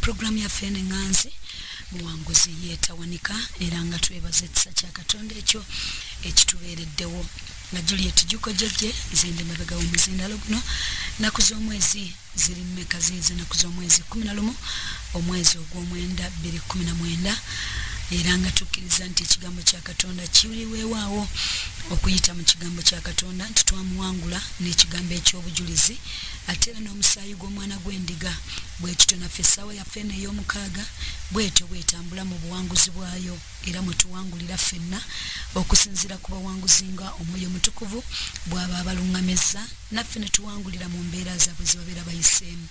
Pulogulaamu yaffe eno eŋŋanzi buwanguzi yeetawanika era nga twebaza ekisa kya Katonda ekyo ekitubeereddewo nga Juliet Juko Jejje nze ndi mabega w'omuzindaalo guno nnaku z'omwezi ziri mmeka ziizi nnaku z'omwezi kkumi na lumu omwezi ogw'omwenda bbiri kkumi na mwenda era nga tukkiriza nti ekigambo kya katonda kiriweewaawo okuyita mu kigambo kya katonda nti twamuwangula n'ekigambo eky'obujulizi ate era n'omusaayi gw'omwana gw'endiga Bwe tutyo naffe essaawa yaffe eno ey'omukaaga bw'etyo bw'etambula mu buwanguzi bwayo, era mwe tuwangulira ffenna okusinziira ku bawanguzi nga Omwoyo Omutukuvu bw'aba abalungamizza, naffe ne tuwangulira mu mbeera zaabwe ze babeera bayiseemu.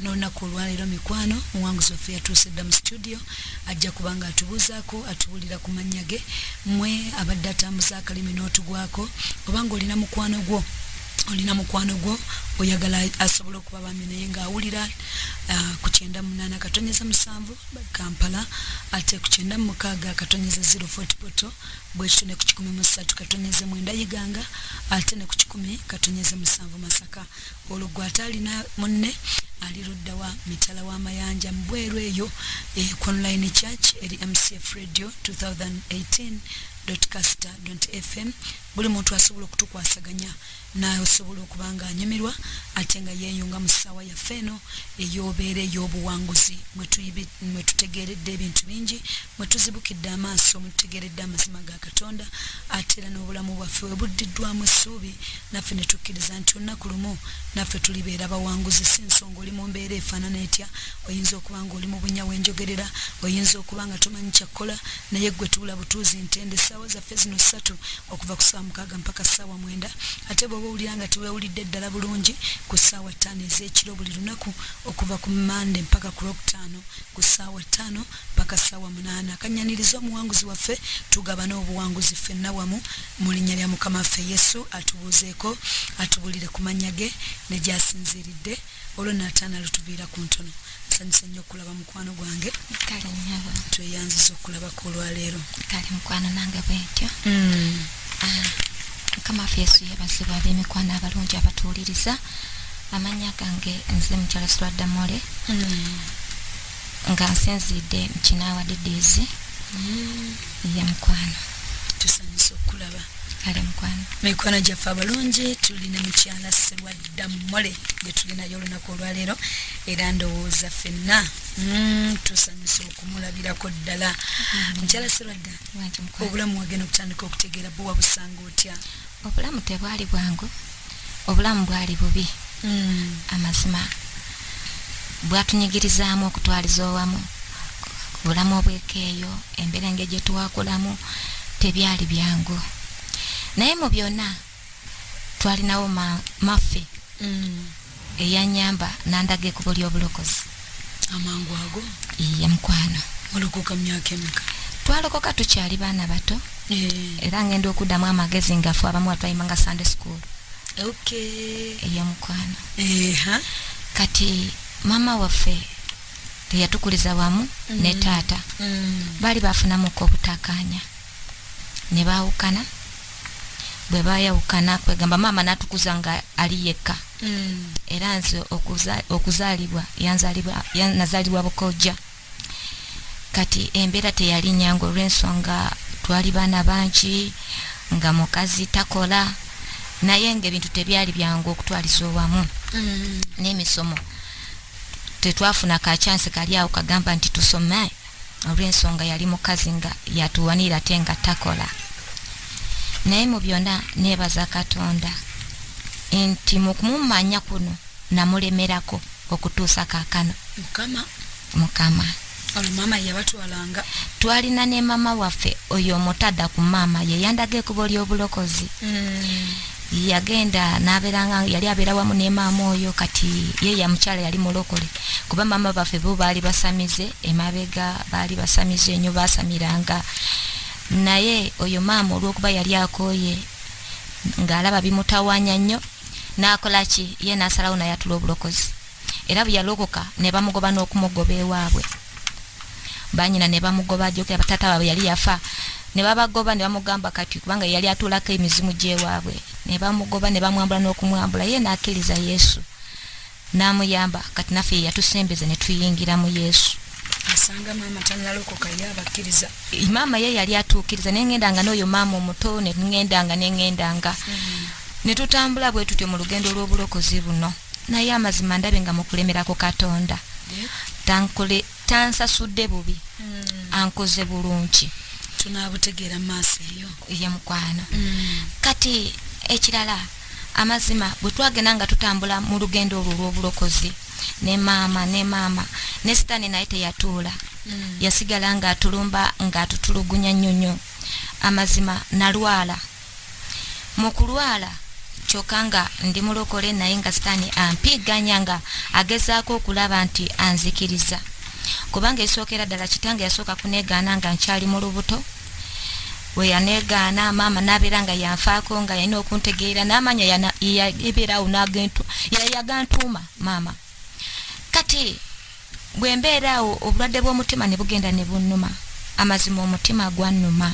N'olunaku olwaleero, mikwano, muwanguzi waffe yatuuse dda mu situdiyo, ajja kuba nga atubuuzaako, atubuulira ku mannya ge. Mmwe abadde atambuza akalimi n'otugwako, oba nga olina mukwano gwo, olina mukwano gwo oyagala asobola oku. bambi naye ng'awulira uh, ku kyenda munaana katonyeza musanvu kampala ate ku kyenda mumukaaga katonyeza zero fort poto bwekityo ne ku kikumi mu ssatu katonyeza mwenda iganga ate ne ku kikumi katonyeza musanvu masaka olwo gwe ate alina munne ali ludda wa mitala w'amayanja mu bweru eyo eh, ku online church eri mcf radio 2018 casita fm buli muntu asobola okutukwasaganya Naawe osobola okuba ng'anyumirwa ate nga yeeyunga mu ssaawa yaffe eno ey'obeera ey'obuwanguzi, mwe tuyibi, mwe tutegeeredde ebintu bingi, mwe tuzibukidde amaaso, mwe tutegeeredde amazima ga Katonda, ate era n'obulamu bwaffe we buddiddwamu essuubi, naffe ne tukkiriza nti olunaku lumu naffe tulibeera bawanguzi. Si nsonga oli mu mbeera efaanana etya, oyinza okuba ng'oli mu bunnya we njogerera, oyinza okuba nga tomanyi kya kukola, naye ggwe tuula butuuzi ntende, ssaawa zaffe. Ssente zino ssatu okuva ku ssaawa mukaaga mpaka ssaawa mwenda ate bw'oba owulira nga teweewulidde ddala bulungi ku ssaawa ttaano ez'ekiro buli lunaku okuva ku Mmande mpaka ku Lwokutaano ku ssaawa ttaano mpaka ssaawa munaana. Kannyaniriza omuwanguzi waffe tugabane obuwanguzi ffenna wamu mu linnya lya Mukama waffe Yesu atubuuzeeko atubuulire ku mannya ge ne gy'asinziiridde. olwo nataana lutuviira ku ntono nsanyuse nnyo okulaba mukwano gwange kale nyabo tweyanziza okulabako olwaleero kale mukwano nange bwentyo hmm. ah, mukama waffe yesu yebazibwa ab'emikwano abalungi abatuwuliriza amanya gange nze mukyalo swadamole hmm. nga nsinziidde mukinawa didizi hmm. ye mukwano tusanyuse okulaba kale mukwano mikwano gyaffe abalungi tuli ne mukyala sebwa dammole gye tulinayo olunaku olwaleero era ndowooza ffenna mm, tusanyusa okumulabirako ddala mm-hmm. mukyala sirwadda obulamu wagenda okutandika okutegeera buwa busanga otya obulamu tebwali bwangu obulamu bwali bubi mm. amazima bwatunyigirizaamu okutwaliza owamu bulamu obwekeeyo embeera nge gye twakulamu tebyali byangu naye mu byonna twalinawo maffe mm. eyanyamba nandaga ekubo lyobulokozi amangu ago iye mukwano olokoka myaka emeka twalokoka tukyali baana bato eh. era ngenda okuddamu amagezi ngafu abamu watwayimanga sunday school eyo mukwano kati mama waffe teyatukuliza wamu mm. ne taata mm. baali bafunamuko obutakanya ne baawukana bwe baayawukana kwegamba maama n'atukuza nga ali yekka mm. era nze okuzaalibwa nazaalibwa bukojja kati embeera teyali nyangu olw'ensonga twali baana bangi nga mukazi takola naye ngaebintu tebyali byangu okutwaliza owamu mm. n'emisomo tetwafuna kakyansi kali awo kagamba nti tusome olw'ensonga yali mukazi nga yatuwanirira ate nga takola naye mu byonna neebaza katonda nti mu kumumanya kuno namulemerako okutuusa kaakano mukama mukama olumama yabatwalanga twalina ne mama waffe oyo omutada ku maama ye yandaga ekubo ly'obulokozi mm. yagenda naberanga yali abera wamu ne maama oyo kati ye ya mukyala yali mulokole kuba maama baffe bo baali basamize emabega baali basamize enyo basamiranga naye oyo maama olwokuba yali akoye ngaalaba bimutawanya nnyo nakola ki ye nasalawo nayatula obulokozi era bweyalokoka ne bamugoba n'okumugoba ewaabwe banyina ne bamugoba ajokera batata baabwe yali yafa ne babagoba ne bamugamba kati kubanga yali atuulako emizimu gy'ewaabwe ne bamugoba ne bamwambula n'okumwambula ye n'akkiriza yesu n'amuyamba kati naffe ye yatusembeza ne tuyingira mu yesu asanga maama tanalokoka ye abakkiriza maama ye yali atuukiriza ne ŋŋendanga n'oyo maama omuto ne ŋŋendanga ne ŋŋendanga mm-hmm. ne tutambula bwe tutyo mu lugendo lw'obulokozi buno naye amazima ndabe nga mukulemera ku katonda tansasudde bubi hmm. ankoze bulungi tunabutegeera maaso eyo ye mukwano hmm. kati ekirala amazima bwe twagenda nga tutambula mu lugendo olwo olw'obulokozi ne maama ne maama ne sitaani naye teyatuula hmm. yasigala ng'atulumba ng'atutulugunya nnyo nnyo amazima nalwala mu kulwala kyoka nga ndi mulokole naye nga sitaani ampiiganya nga agezaako okulaba nti anzikiriza kubanga esookera ddala kitange yasooka kuneegaana nga nkyali mu lubuto we yaneegaana maama n'abeera nga yanfaako nga yalina okuntegeera n'amanya yabeeraawo yayagantuuma maama kati bwe mbeera awo obulwadde bw'omutima ne bugenda ne bunnuma amazima omutima gwannuma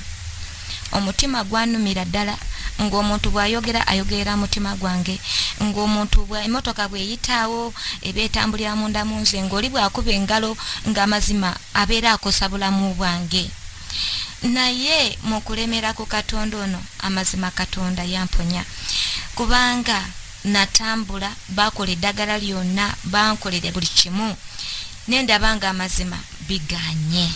omutima gwannumira ddala ng'omuntu bw'ayogera ayogerera mutima gwange ng'omuntu emotoka bw'eyitaawo eba etambulira munda mu nze ng'oli bw'akuba engalo ng'amazima abeera akosa bulamu bwange naye mu kulemera ku katonda ono amazima katonda yamponya kubanga natambula baakola eddagala lyonna bankolere buli kimu naye ndaba nga amazima biganye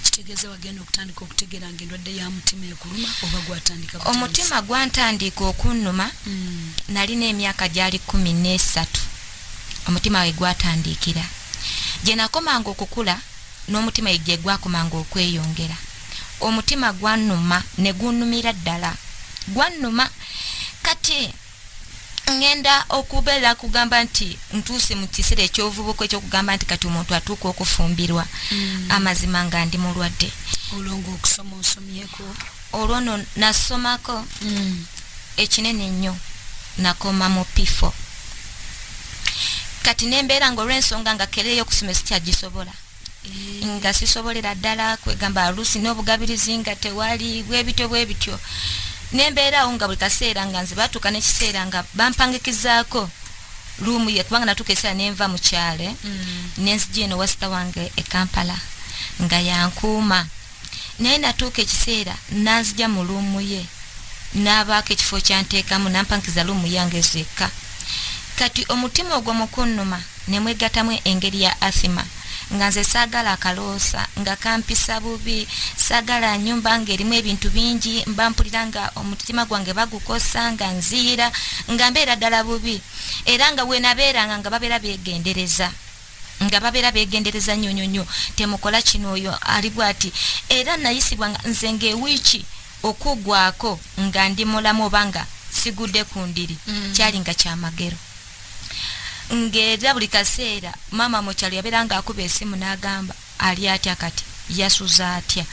kitegeeza wagenda okutandika okutegeera nga endwadde ya mutima ekuluma oba gwatandika omutima gwantandiika okunnuma hmm. nalina emyaka gyali kumi n'esatu omutima we gwatandiikira gye nakomanga okukula n'omutima gye gwakomanga okweyongera omutima gwannuma ne gunnumira ddala gwannuma kati ŋŋenda okubeera kugamba nti ntuuse mu kiseera ekyovubuka ekyokugamba nti kati omuntu atuuka okufumbirwa mm. amazima nga ndi mulwadde olwo ngaokusoma osomyeko olwo no nasomako mm. ekinene nnyo nakoma mu pifo kati nembeera ngaolwensonga nga kereeyo okusoma esikyagisobola nga sisobolera ddala kwegamba oluusi n'obugabirizi nga tewali bwebityo bwebityo nembeera awo nga buli kaseera nga nze batuuka nekiseera nga bampangikizaako luumu ye kubanga natuuka ekiseera nenva mu kyalo mm. nenzija eno wasita wange e kampala nga yankuuma naye natuuka ekiseera nanzija mu luumu ye n'abaako ekifo kyanteekamu nampankiza luumu yange zekka kati omutima ogwo mukunnuma ne mwegatamu engeri ya athima nga nze saagala akaloosa nga kampisa bubi saagala nyumba nga erimu ebintu bingi mba mpulira nga omutima gwange bagukosa nga nziyira nga mbeera ddala bubi era nga wenabeeranga nga babeera beegendereza nga babera begendereza nyo nyo nyo temukola kino oyo ali bwati era nayisibwa nga nze nga ewiiki okugwako nga ndi mulamu oba nga sigude ku ndiri mm. kyali nga kyamagero ng'era buli kaseera maama mu kyalo yabeera ng'akuba esimu n'agamba Ali atya kati? Yasuze atya?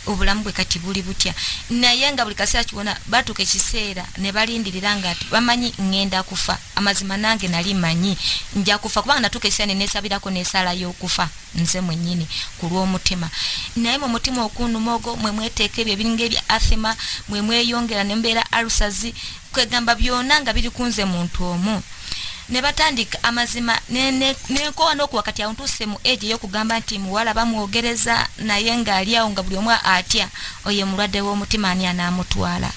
Obulamu bwe kati buli butya? Naye nga buli kaseera kiwona batuuka ekiseera ne balindirira nga ati bamanyi ŋŋenda kufa. Amazima nange nali manyi nja kufa kubanga natuuka ekiseera ne neesabirako n'esaala y'okufa nze mwennyini ku lw'omutima. Naye mu mutima okunnuma ogwo mwe mweteeka ebyo ebiringa ebya athema, mwe mweyongera ne mubeera alusazi. kwegamba byona nga biri kunze muntu omu nebatandika amazima nenkowa nokuwa kati awo ntuuse mu age eyokugamba nti muwala bamwogereza naye nga ali awo nga buli omu atya oyo mulwadde w'omutima ani anaamutwala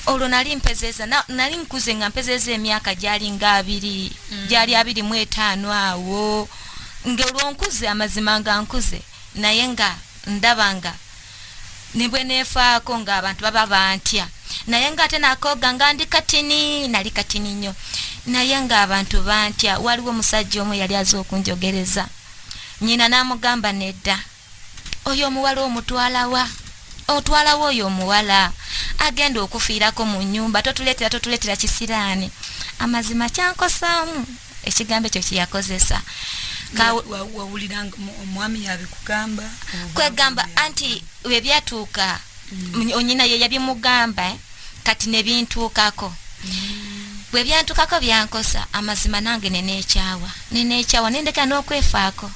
olwo nali mpezeeza nali nkuze nga mpezeeza emyaka gyali nga abiri mm. gyali abiri mu etaano awo ngaolwonkuze amazima nga nkuze naye nga ndaba nga ne bwe neefaako ng'abantu baba bantya naye ng'ate nakooga nga ndi katini nali katini nnyo naye ng'abantu bantya waliwo omusajja omu yali aza okunjogereza nyina n'amugamba nedda oyo omuwala omutwalawa otwalawo oyo omuwala agenda okufiirako mu nnyumba totuleetera totuleetera kisiraani amazima kyankosaamu ekigambo ekyo kyeyakozesa wawulira omwami yabikugamba kwegamba anti webyatuuka mm. onyina ye yabimugamba eh? kati nebintuukako mm. bwe byantukako byankosa amazima nange nenekyawa nenekyawa nendeka n'okwefaako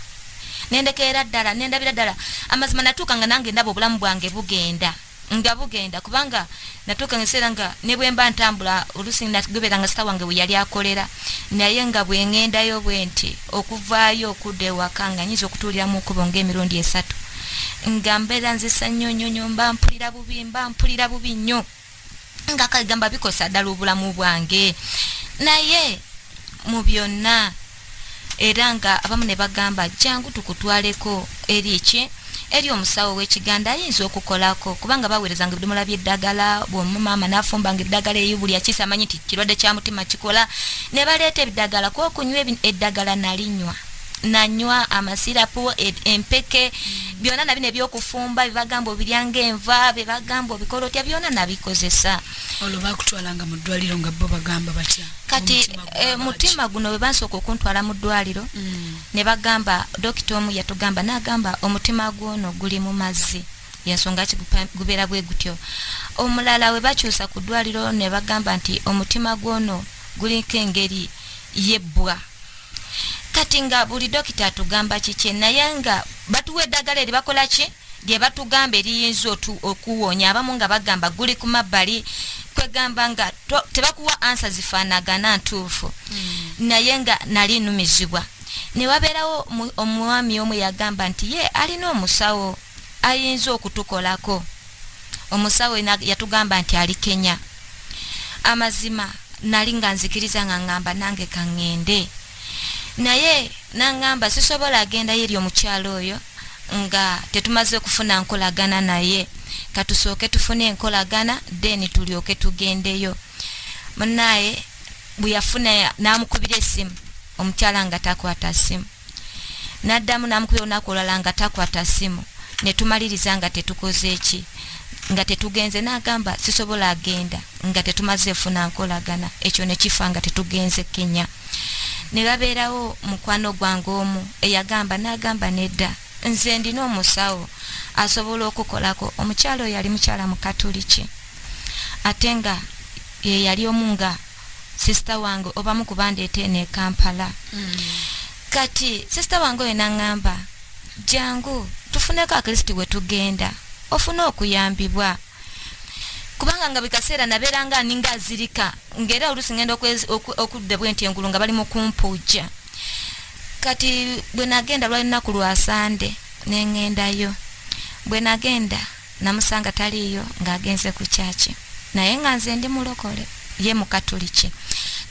nendeka era ddala nendabira ddala amazima natuuka nga nange ndaba obulamu bwange bugenda nga bugenda kubanga natuuka nga ekiseera nga ne bwe mba ntambula oluusi gubeera nga sita wange we yali akolera naye nga bwe ŋŋendayo bwe nti okuvaayo okudda ewaka nga nyinza okutuulira mu nkubo ng'emirundi esatu nga mbeera nzisa nnyo nnyo nnyo mba mpulira bubi mba mpulira bubi nnyo nga kagamba bikosa ddala obulamu bwange naye mu byonna era nga abamu ne bagamba jangu tukutwaleko eri eki eri omusawo w'ekiganda ayinza okukolako kubanga baweerezanga ebidomola by'eddagala bwomumaama n'afumbanga eddagala eyo buli akiisa amanyi nti kirwadde kya mutima kikola ne baleeta ebiddagala ku okunywa eddagala nalinywa nanywa amasirapu e, empeke byona nabino ebyokufumba bebagamba obiryanga enva bebagamba obikola otya byona nabikozesa olwo bakutwalanga mu ddwaliro nga bo bagamba batya kati eh, mutima guno bwe bansooka okuntwala mu ddwaliro mm. ne bagamba dokita omu yatugamba n'agamba omutima gwono guli mu mazzi yensonga ki gubeera bwe gutyo omulala we bakyusa ku ddwaliro ne bagamba nti omutima gwono guliko engeri yebbwa kati nga buli dokita atugamba kikye naye nga batuwa eddagala eri bakola ki lyebatugamba eriyinza okuwonya abamu nga bagamba guli kumabbali kwegamba nga tebakuwa ansa zifanagana ntuufu hmm. naye nga nali numizibwa newabeerawo omwami omu yagamba nti ye alina omusawo ayinza okutukolako omusawo yatugamba nti ali kenya amazima nali nga nzikiriza nga ngamba nange kaŋŋende naye nangamba sisobola agenda yeri omukyalo oyo nga tetumaze kufuna nkolagana naye katusooke tufune enkolagana then tulyoke tugendeyo munaye bweyafuna namukubira esimu omukyala nga takwata simu naddamu namukubira olunaku olwala nga takwata simu netumaliriza nga tetukoze eki nga tetugenze nagamba sisobola agenda nga tetumaze funa nkolagana ekyo nekifa nga tetugenze kenya ne babeerawo mukwano gwange omu eyagamba n'agamba nedda nze ndina omusawo asobola okukolako omukyala oyo yali mukyala mukatuliki ate nga ye yali omu nga sisita wange obamu kubandeeta eno ekampala mm. kati sisita wange oyo naŋŋamba jangu tufuneko akristi we tugenda ofune okuyambibwa kubanga nga buli kaseera nabeeranga aninga azirika ngaera oluusi ngenda okudda bwenti engulu nga bali mukumpuujja kati bwe nagenda lwali lunaku lwa sande nengendayo bwe nagenda namusanga taliiyo ng'agenze ku kyaki naye nga nze ndi mulokole ye mukatuliki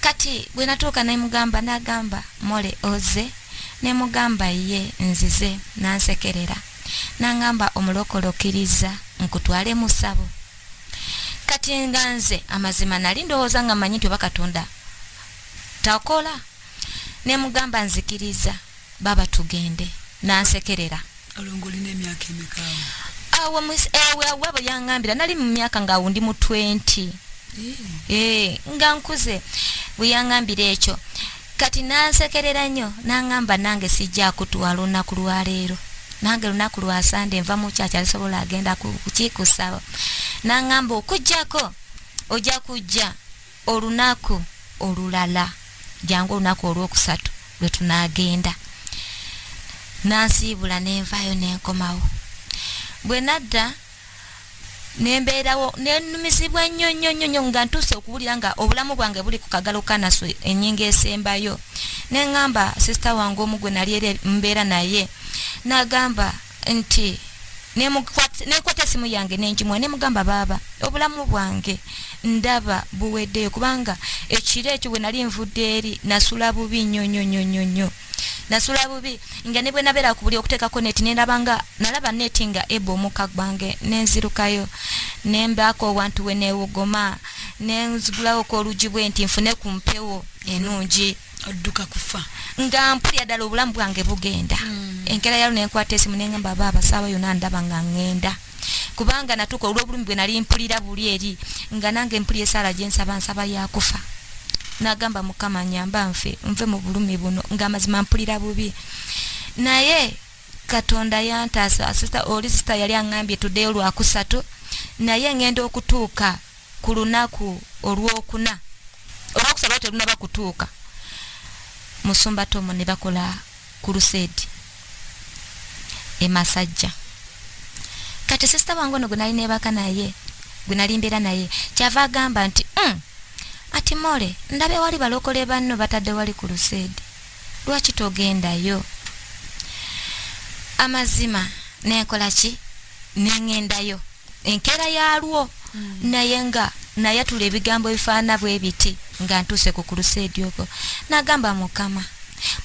kati bwe natuuka nemugamba nagamba mole oze nemugamba ye nzize nansekerera nangamba omulokole okiriza nkutwale musabo kati nga nze amazima nali ndowooza nga manyi nti oba katonda takola nemugamba nzikiriza baba tugende nansekerera awo ewe awabo yangambira nali mu myaka nga wundi mu 20 ee eh, nga nkuze bweyangambira ekyo Kati n'ansekerera nnyo n'angamba nange sijja kutwala olunaku lwa leero nange lunaku lwa sande nva mu kyakya lisobola agenda kukikusaba n'angamba okujjako ojja kujja olunaku olulala jangu olunaku olwokusatu lwe tunaagenda nansiibula nenvaayo nenkomawo bwe nadda nembeerawo nenumizibwa nnyo nnyo nnyo nnyo nga ntuuse okuwulira nga obulamu bwange buli ku kagalo kanasu enyinga esembayo neŋamba sisita wange omu gwe nali era mbeera naye nagamba nti nekwata esimu yange nenjimuwa nemugamba baaba obulamu bwange ndaba buweddeyo kubanga ekiro ekyo bwe nali nvudde eri nasula bubi nnyo nnyo nnyo nnyo nnyo nasula bubi nga ne bwe nabeera ku buli okuteekako neti neraba nga nalaba neti nga eba omuka gwange nenzirukayo nembaako owantu we newogoma nenzigulawo ku olugi bwe nti nfune ku mpewo enungi odduka kufa nga mpulira ddala obulamu bwange bugenda mm. enkera yalo nenkwata esimu nengamba baaba saawa yona ndaba nga ngenda kubanga natuka olwobulumi bwe nali mpulira buli eri nga nange mpulira esaala gye nsaba nsaba yakufa nagamba mukama nyamba nfe nve mu bulumi buno nga amazima mpulira bubi naye katonda yantaasa sista oli sista yali angambye today olwakusatu naye ngenda okutuuka ku lunaku olwokuna olwokusaba telunaba kutuuka musumba tomo ne bakola kuruseedi e masajja kati sisita wange ono gwenali nebaka naye gwenali mbeera naye kyava agamba nti mm, ati mole ndaba ewali balokole banno batadde wali kuruseedi lwaki togendayo amazima nenkola ki nengendayo enkera yalwo mm. naye nga nayatula ebigambo ebifaana bwebiti nga ntuuse ku kuluseedi okwo nagamba mukama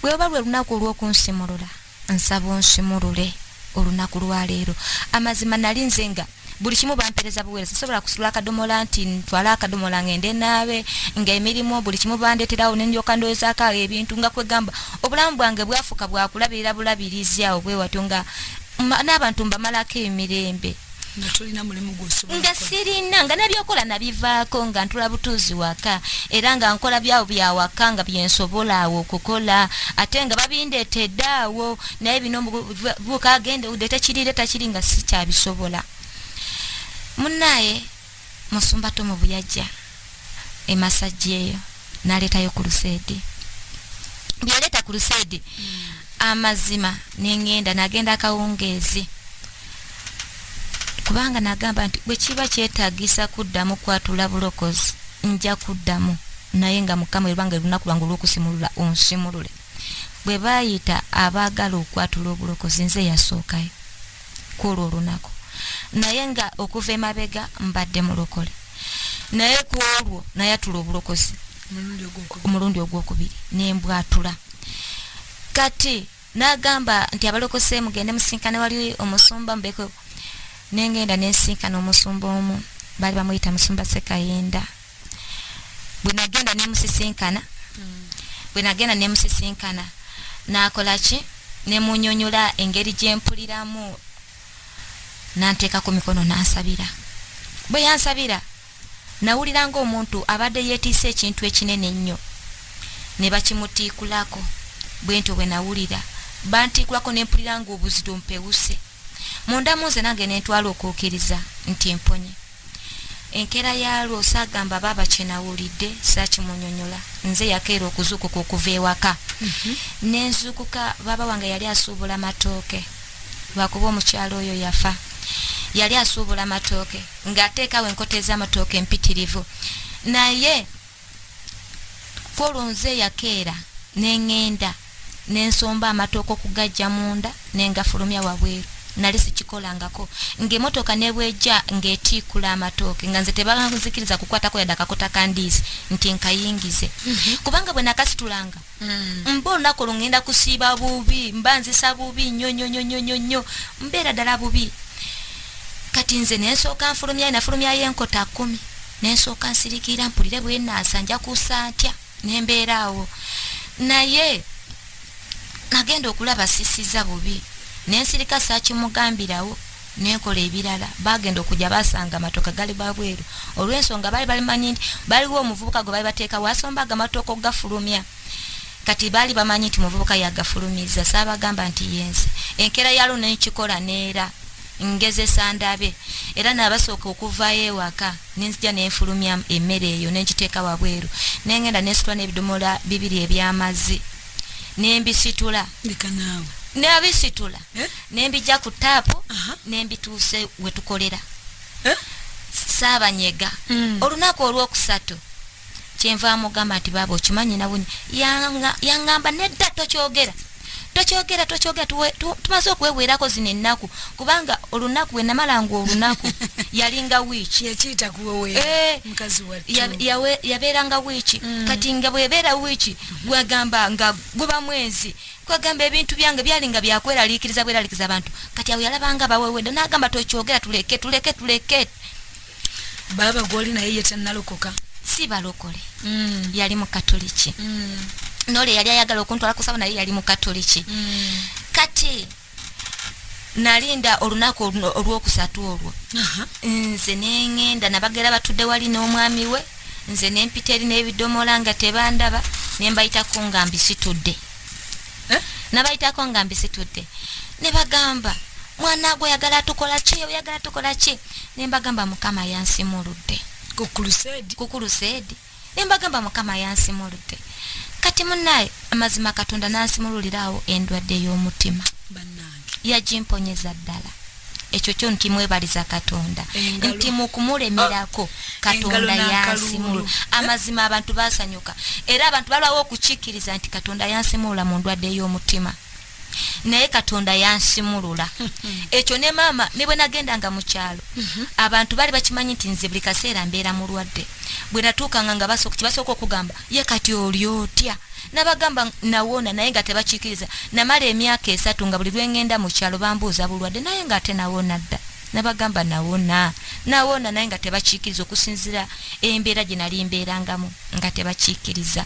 bweba lwe lunaku olwokunsimulula nsaba onsimulule olunaku lwaleero amazima nali nze nga buli kimu bampereza buweereza sisobola kusula akadomola nti ntwala akadomola ngende naabe nga emirimu buli kimu bandeterawo nendyoka ndowozaako ebintu nga kwegamba obulamu bwange bwafuuka bwakulabirira bulabirizi awo bwewatyo nga n'abantu mbamalako emirembe nga sirina nga nabyokola nabivaako nga ntula butuuzi waka era nga nkola byabo byawaka nga byensobola awo okukola ate nga babindeetedde awo naye bino bukagende ude tekirire takiri nga sikyabisobola munaye musumba tomu buyajja emasajja eyo naleetayo kuluseedi byeyaleeta kuluseedi amazima nengenda nagenda akawungeezi kubanga nagamba nti bwekiba kyetagisa kuddamu kwatula bulokozi nja kuddamu naye nga mukama ebanga olunaku lwange olwokusimulula onsimulule bwe bayita abaagala okwatula obulokozi nze yasookayo kwolwo olunaku naye nga okuva emabega mbadde mulokole naye kwolwo nayatula obulokozi omulundi ogwokubiri nembwatula kati nagamba nti abalokose mugende musinkane wali omusumba mubeko nengenda nensinkana omusumba omu bali bamuyita musumba sekayenda bwe nagenda nemusisinkana mm. bwe nagenda nemusisinkana nakola ki nemunyonyola engeri gyempuliramu nanteeka ku mikono nansabira bwe yansabira nawulira ngaomuntu abadde yetiisa ekintu ekinene ennyo ne bakimutiikulako bwentyo bwe nawulira bantiikulako nempulira ngaobuzito mpewuse munda munze nange nentwala okuukiriza nti mponye enkeera yaalwo saagamba baaba kye nawulidde saakimunyonyola nze yakeera okuzuukuka okuva ewaka mhm. ne nzuukuka baaba wange yali asuubula matooke lwakuba omukyalo oyo yafa yali asuubula matooke ng'ateekawo enkota ez'amatooke empitirivu naye Kolo nze yakeera ne ŋŋenda ne nsomba amatooke okugaggya munda ne ngafulumya wabweru. Nali sikikolangako. Ng'emmotoka ne bw'ejja ng'etiikula amatooke nga nze tebanzikiriza kukwatako yadde akakota ka ndiizi nti nkayingize. Mhm. Kubanga bwe nakasitulanga Mm. mba olunaku olwo ŋŋenda kusiiba bubi mba nzisa bubi nnyo nnyo nnyo nnyo nnyo nnyo mbeera ddala bubi kati nze nensooka nfulumyayo nafulumyayo enkota kkumi nensooka nsirikiira mpulire bwenaasa nja kuusa ntya nembeera awo naye nagenda okulaba sisiza bubi nensirika sakimugambirawo nenkola ebirala bagenda okuja basanga amatoka gali babweru olwensonga bali balimanyi nti baliwo omuvubuka gwe bali bateeka wasomba agamatoka okugafulumya kati bali bamanyi nti muvubuka yagafulumiza saabagamba nti yenze enkera yalo nenkikola neera ngezesa ndabe era nabasooka okuvayo ewaka nenzija nenfulumya emmere eyo nenkiteeka wabweru nengenda nesitwa nebidomola bibiri ebyamazzi nembisitula nabisitula eh? nembija ku taapu nembituuse wetukolera eh? saabanyega mm. olunaku olwokusatu kyenva amugamba nti baaba okimanyi nawe yangamba nedda tokyogera tokyogera tokyogera tumaze okweweerako zino ennaku kubanga olunaku bwe namala nga olunaku yalinga wiiki eh, yabeeranga wiiki mm. kati nga bwebeera wiiki gwagamba nga guba mwezi kwagamba ebintu byange byali nga byakweraliikiriza bweraliikiriza abantu kati awo yalabanga bawewedde n'agamba tokyogera tuleke tuleke tuleke baaba gwoli naye ye tannalokoka si balokole mm. yali mukatoliki mm. nole yali ayagala okuntwala kusaba naye yali mukatoliki mm. kati nalinda olunaku olwokusatu olwo nze nengenda nabagera batudde wali n'omwami we nze nempita eri n'ebidomola nga tebandaba nembayitako nga mbisitudde eh? nabayitako nga mbisitudde ne bagamba mwana gwe oyagala tukola ki oyagala tukola ki nembagamba mukama yansimuludde kukuluseedi nembagamba mukama yansimuludde kati munaye amazima katonda nansimululiraawo endwadde y'omutima yagimponyeza ddala ekyo kyo nti mwebaliza katonda nti mukumulemerako ah, katonda yansimulula amazima abantu basanyuka era abantu balwawo okukikkiriza nti katonda yansimulula mu ndwadde y'omutima naye katonda yansimulula ekyo ne maama ne bwe nagenda nga mu kyalo mhm. abantu baali bakimanyi nti nze buli kaseera mbeera mulwadde bwe natuukanga nga kibasooka okugamba ye kati oli otya nabagamba nawona naye nga tebakiikiriza namala emyaka esatu nga buli lwengenda mu kyalo bambuuza bulwadde naye nga ate nawona dda nabagamba nawona nawona naye nga tebakiikiriza okusinzira embeera gye nali mbeerangamu nga tebakiikiriza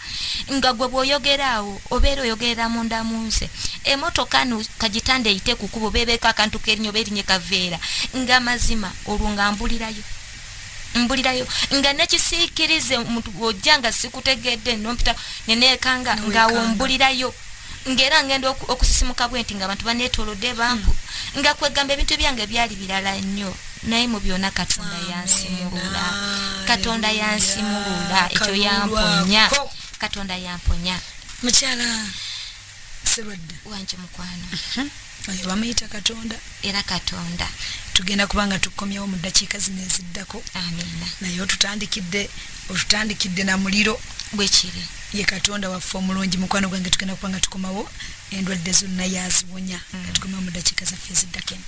nga gwe bwoyogera awo obeera oyogerera munda mu nze emotoka no kagitanda eyite kukuba obeebeeko akantu kerinyo oba erinye kaveera nga mazima olwo nga mbulirayo mbulirayo nga nekisiikirize omuntu ojja nga sikutegedde nompita neneekanga ngaawo mbulirayo ng'era ngenda okusisimuka bwe nti ng'abantu baneetoolodde banku hmm. nga kwegamba ebintu byange byali birala nnyo naye mu byonna katonda yansimulula katonda yansimulula ekyo yamponya katonda yamponya mukyala serwadda wanje mukwano mhm. oyo bamuyita katonda era katonda tugenda kuba nga tukomyewo mu ddakiika zino eziddako amiina naye otutandikidde otutandikidde na muliro bwekiri ye katonda waffe omulungi mukwano gwange tugenda kuba nga tukomawo endwadde zonna yaziwonya nga mm. tukomawo mu ddakiika zaffe eziddako eno